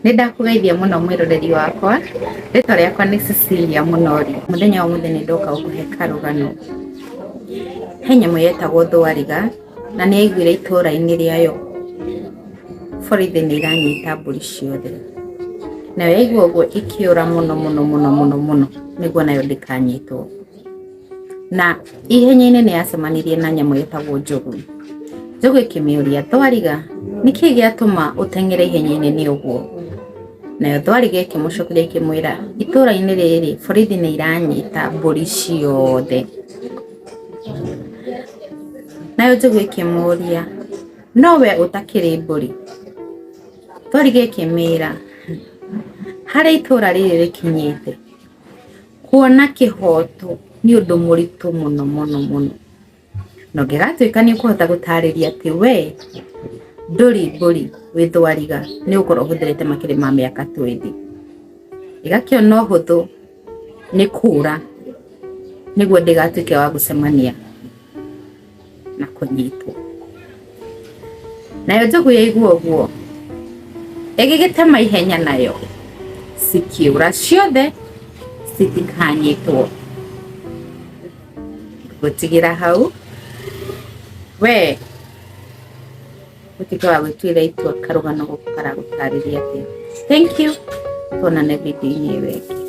Nĩ ndakũgeithia mũno mwĩroreri wakwa, rĩtwa rĩakwa nĩ Cecilia Mũnori. Mũthenya wa ũmũthĩ nĩ ndoka gũkũhe karũgano. He nyamũ yetagwo thwariga na nĩ yaiguire itũũra-inĩ rĩayo borithi nĩ iranyita mbũri ciothe. Nayo yaigua ũguo ĩkĩũra mũno mũno mũno mũno nĩguo nayo ndĩkanyitwo. na ihenya-inĩ nĩ yacemanirie na nyamũ ĩtagwo njogu njogu ĩkĩmĩũria thwariga nĩkĩ gĩatũma ũteng'ere ihenya-inĩ nĩ ũguo nayo thwariga ĩkĩmũcokeria ĩkĩmwĩra itũra-inĩ rĩrĩ borithi nĩ iranyita mbũri ciothe nayo njogu ĩkĩmũria no we ũtakĩrĩ mbũri thwariga ĩkĩmĩra harĩa itũra rĩrĩ rĩkinyĩte Kuona kĩhoto nĩ ũndũ mũritũ mũno mũno mũno, na ũngĩgatuĩka nĩ ũkũhota gũtarĩria atĩ we ndũrĩ mbũri wĩ thwariga nĩ gũkorwo ũhũthĩrĩte makĩrĩ ma mĩaka twendi, ĩgakĩona ũhũthũ nĩ kũra nĩguo ndĩgatuĩke wa gũcemania. na kũnyitwo nayo njogu yaigua ũguo ĩgĩgĩtema ihenya nayo cikiũra ciothe citikanyitwo gũtigĩra hau we ũtuĩke wa gwĩtuĩra itua karũgano gũkũ karagũtarĩria atĩa thank you tuonane video-inĩ ĩyo ĩngĩ